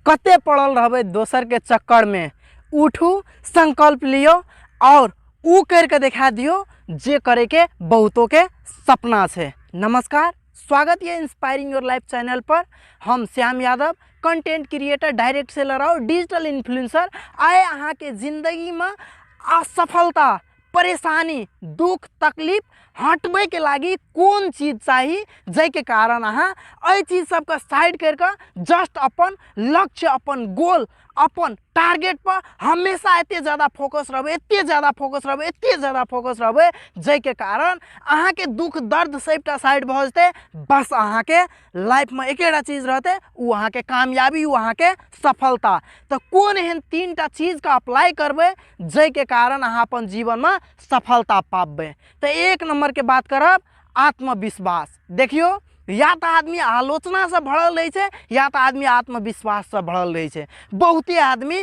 कते पड़ल रहबै दोसरके चक्करमे उठू संकल्प लियौ आओर ओ करिके देखा दियौ जे करैके बहुतोके सपना छै नमस्कार स्वागत यऽ इंस्पायरिंग योर लाइफ चैनल पर हम Shyam Yadav content creator direct seller आओर डिजिटल इन्फ्लुएंसर आए अहाँके जिंदगीमे असफलता परेशानी दुख तकलीफ हटबैके लागि कोन चीज चाही जाहिके कारण अहाँ एहि चीज सबके साइड करिकऽ जस्ट अपन लक्ष्य अपन गोल अपन टारगेट पर हमेशा एते जादा फोकस रहबै एते जादा फोकस रहबै एते जादा फोकस रहबै जाहिके कारण अहाँके दुख दर्द सबटा साइड भऽ जेतै बस अहाँके लाइफमे एकेटा चीज रहतै ओ अहाँके कामयाबी ओ अहाँके सफलता तऽ कोन एहन तीन टा चीजके अप्लाई करबै जाहिके कारण अहाँ अपन जीवनमे सफलता पाबबै तऽ एक नम्बरके बात करब आत्मविश्वास देखियौ या तऽ आदमी आलोचनासँ भरल रहै छै या तऽ आदमी आत्मविश्वाससँ भरल रहै छै बहुते आदमी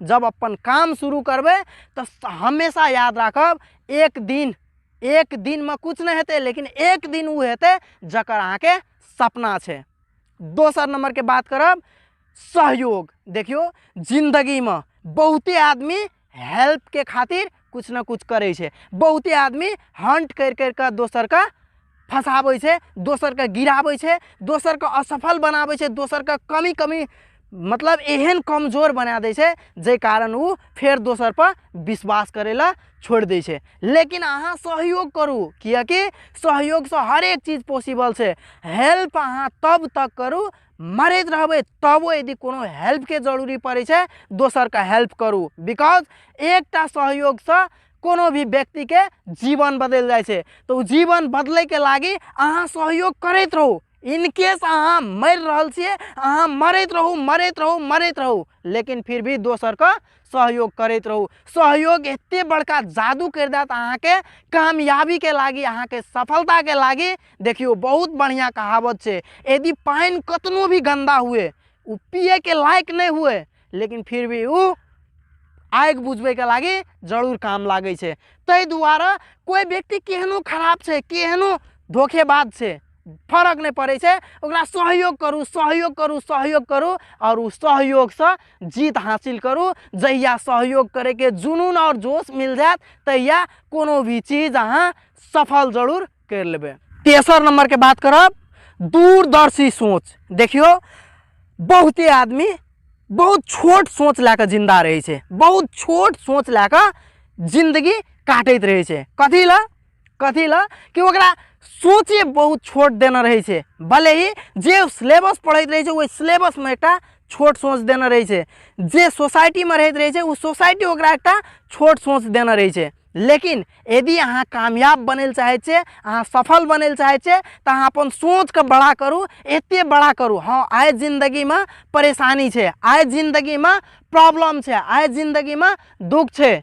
जब अपन काम शुरू करबै तऽ हमेशा याद राखब एक दिन एक दिनमे किछु नहि हेतै लेकिन एक दिन ओ हेतै जकर अहाँके सपना छै दोसर नंबरके बात करब सहयोग देखियौ जिंदगीमे बहुते आदमी हेल्पके खातिर कुछ ना कुछ करै छै बहुते आदमी हंट करि करि कऽ दोसरके फँसाबै छै दोसरके गिराबै छै दोसरके असफल बनाबै छै दोसरके कमी कमी मतलब एहन कमजोर बना दै छै जाहि कारण ओ फेर दोसर पर विश्वास करै लए छोड़ि दै छै लेकिन अहाँ सहयोग करू किएकि सहयोगसँ हरेक चीज पॉसिबल छै हेल्प अहाँ तब तक करू मरैत रहबै तबो यदि कोनो हेल्पके जरूरी पड़ै छै दोसरके हेल्प करू बिकॉज एकटा सहयोगसँ कोनो भी व्यक्तिके जीवन बदलि जाइ छै तऽ ओ जीवन बदलैके लागी अहाँ सहयोग करैत रहू इनकेस अहाँ मरि रहल छियै अहाँ मरैत रहू मरैत रहू मरैत रहू लेकिन फिर भी दोसरके सहयोग करैत रहू सहयोग एते बड़का जादू करि देत अहाँके कामयाबीके लागी अहाँके सफलताके लागी देखियौ बहुत बढ़िआँ कहावत छै यदि पानि कतनो भी गन्दा हुए ओ पियैके लायक नहि हुए लेकिन फिर भी ओ आगि बुझबैके लागी जरूर काम लागै छै ताहि दुआरे कोइ व्यक्ति केहनो खराब छै केहनो धोखेबाज छै फरक नहि पड़ै छै ओकरा सहयोग करू सहयोग करू सहयोग करू आओर ओ सहयोगसँ जीत हासिल करू जहिया सहयोग करैके जुनून आओर जोश मिल जायत तहिया कोनो भी चीज अहाँ सफल जरूर करि लेबै तेसर नंबरके बात करब दूरदर्शी सोच देखियौ बहुते आदमी बहुत छोट सोच लए कऽ जिन्दा रहै छै बहुत छोट सोच लए कऽ जिन्दगी काटैत रहै छै कथी लए कथी लए कि ओकरा सोचे बहुत छोट देने रहै छै भले ही जे सिलेबस पढ़ैत रहै छै ओहि सिलेबसमे एकटा छोट सोच देने रहै छै जे सोसाइटीमे रहैत रहै छै ओ सोसाइटी ओकरा एकटा छोट सोच देने रहै छै लेकिन यदि अहाँ कामयाब बनै लए चाहै छियै अहाँ सफल बनै लए चाहै छियै तऽ अहाँ अपन सोचके बड़ा करू एते बड़ा करू हँ आइ जिन्दगीमे परेशानी छै आइ जिन्दगीमे प्रॉब्लम छै आइ जिन्दगीमे दुःख छै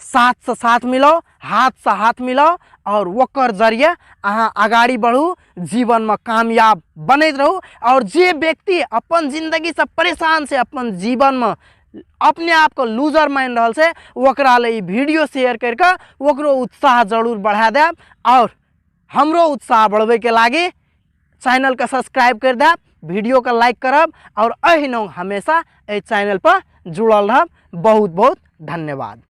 साथसँ साथ मिलाउ हाथसँ हाथ मिलाउ आओर ओकर जरिए अहाँ अगाड़ी बढ़ू जीवनमे कामयाब बनैत रहू आओर जे व्यक्ति अपन जिन्दगीसँ परेशान छै अपन जीवनमे अपने आपके लूजर मानि रहल छै ओकरा लए ई वीडियो शेयर करि कऽ ओकरो उत्साह जरूर बढ़ा देब आओर हमरो उत्साह बढ़बैके लागी चैनलके सब्सक्राइब करि देब वीडियोके लाइक करब आओर अहिना हमेशा एहि चैनलपर जुड़ल रहब बहुत बहुत धन्यवाद